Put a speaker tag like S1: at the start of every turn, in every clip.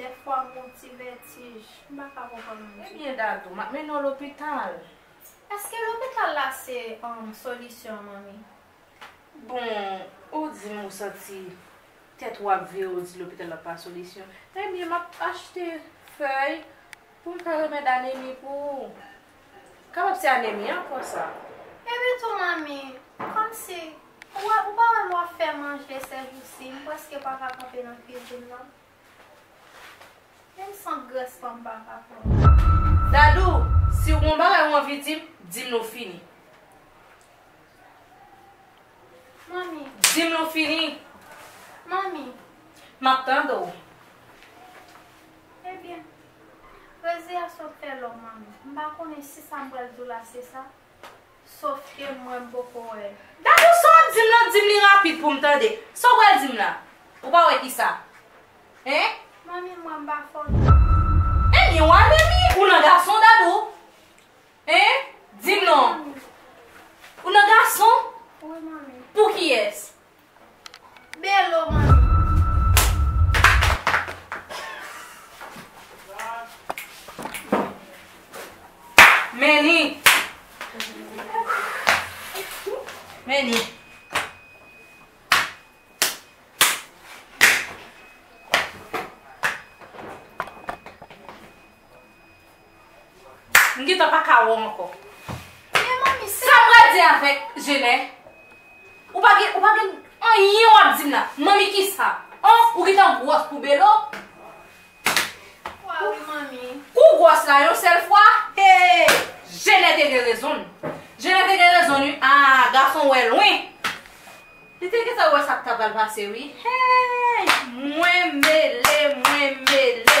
S1: Dèfwa m gon ti vètij, m pa ka konprann nou ditou. Ebyen Dadou, m ap
S2: mennen w lopital. Eske
S1: lopital la se solisyon an manmi? Bon,
S2: ou di m ou santi tèt ou ap vire ou di lopital la pa solisyon. Ebyen m ap achte fèy pou m fè remèd anemi pou ou. Kapab se anemi an ankò sa. Epi tou
S1: manmi, kòmsi ou pa wè m wap fè manje sèjousi, m prèske pa ka kanpe nan kwizin nan. Menm sant grès fanm pa ka pran. Dadou,
S2: si w gon bagay ou anvi di m, di m l ou fini.
S1: Manmi. Di m l ou
S2: fini. Manmi.
S1: M ap
S2: tande w.
S1: Ebyen, pwezi a sot fè lò manmi. M pa konnen si sa m pral di w la se sa. Sof ke mwen m poko wè l. Dadou sa wap
S2: dim lan dim li rapid poum tande. Sa w pral dim la? Ou pa wè kisa? Hein? Manmi mwen
S1: m pa fò non. Enbyen
S2: wa lèmi ou nan gason Dadou? Hein? Dim non. Ou nan gason? Wi manmi.
S1: Pou kiyès? Belo manmi.
S2: Meni. Meni. M gentan pa ka wè w ankò. Men manmi
S1: se. Sa m pral di avèk
S2: Jenè? Ou pa gen, ou pa gen anyen w ap di m la. Manmi kisa? An? Ou gentan gwòs pou Belo? Kwa
S1: wi manmi. Kou w gwòs la yon
S2: sèl fwa? Hee! Jenè te gen rezon l. Jenè te gen rezon l wi. A! Gason wè lwen. Li te gentan wè sa k ta pral pase wi. Hee! Mwen mele, mwen mele.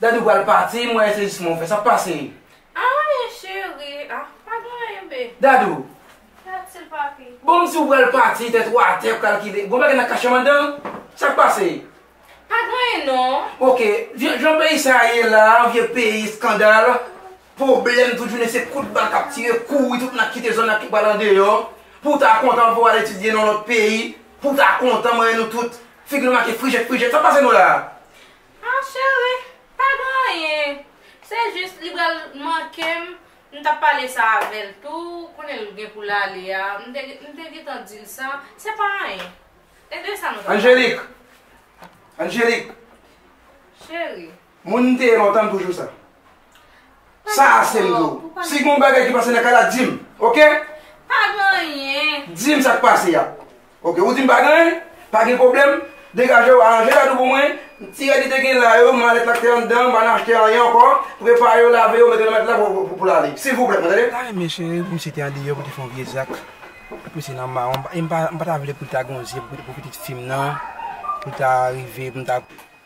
S3: Dadou pral pati m wè se jis mwen ou fè sak pase. Ah men cheri ah pa gen anyen
S2: bby. Dadou. Fè
S1: atil papi. Bon m si ou pral pati
S3: tèt ou atè ou kalkile gon bagay nan kachanm andan sak pase. Pa gen anyen
S2: non. Ok jan
S3: peyi sa ye la vye peyi eskandal pwoblèm tout jounen se kout bal kap tire kouri tout moun ap kite zòn nan tout pral andeyò pou ta kontan pou al etidye nan lòt peyi pou ta kontan mwen wè nou tout Figi l make frijèt
S2: frijèt, sa k pase nou la a? Ah chérie, pa gen anyen, se jis li pral manke m, m t ap pale sa avè l tou, konnen l gen pou l ale a, m te m te gentan di l sa, se pa anyen. E de sa nou t ap pale? Angélique!
S3: Angélique! Chérie.
S2: Moun m te ye
S3: lontan m toujou sa. Sa a se m di w. Si gen yon bagay ki pase nan kay la di m. Ok? Pa gen
S2: anyen. Di m sa k pase a.
S3: Ok, ou di m pa gen anyen? Pa gen pwoblèm. Degaje w, aranje gadon pou mwen. Ti rad li te gen la yo, malèt la k te anndan an, pa nan achte anyen ankò. Prepare yo, lave yo, mete nan matla pou l ale. Silvouplè, mwen tande. Ta renmen cheri pou misye te
S4: andeyò pou l te fè yon vye zak. Pou misye nan mawon. E m pa ta vle pou l ta gen yon zye pou pitit fi m nan. Pou l ta rive pou m ta.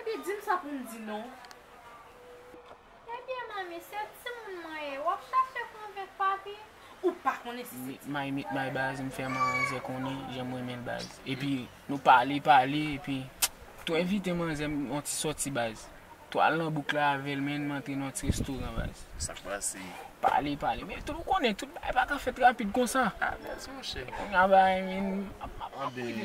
S2: Ebyen dim sa poum di non.
S1: Ebyen manmi se timoun mwen ye wap chache konvenk papi ou pa konnen
S2: si se timoun Meet my meet my baz m
S5: fè manzè konnen janm renmenl baz epi nou pale pale epi tou envite manzè m yon ti sòti baz tou al nan bouk la avèl menn m antre nan yon ti restoran baz Sak pase?
S6: pale pale
S5: men tou ou konnen tout bagay paka fèt rapid konsa ah baz monchè
S6: kounya bagay vin
S5: ap ap ap Anben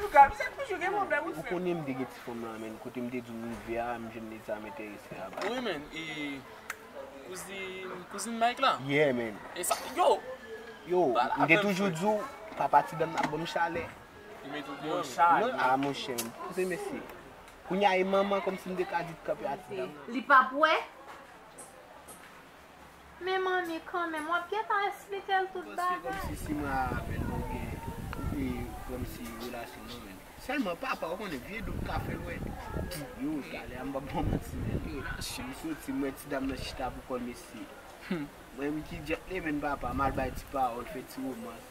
S5: Ou konnen m te gen ti
S4: fanm lan men kote m te di w m rive a m jwenn nèg sa m entèrese a baz. Wi men e
S6: kouzin Mike la? Yeah men. E sa
S4: yo?
S6: Yo m
S4: te toujou
S6: di w papa
S4: ti dam nan ap banm chalè. Yo met ou deyò
S6: men. Chalè. Ah
S5: monchè
S6: m
S5: panse
S4: mesye. Kounya e manman kòmsi m te ka di t kanpe a ti dam nan. Li pap
S2: wè?
S1: Men manmi kanmenm wap gentan esplikel tout bagay. Paske komsi simara avèl
S4: nou gen e komsi relasyon nou menm. Selman papa ou konnen vye dout ka fèl wè. Yo talè a mbap baw manti menn. Relasyon. M soti m wè ti dam nan chita pou kòl mesye. Humm. Mwen menm ki djèt lemenn papa mal bay ti pawòl fè ti romans.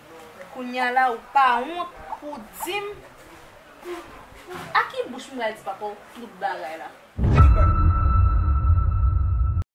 S2: Kounya la ou pa wont pou w dim a ki bouch m pral di papaw tout bagay la.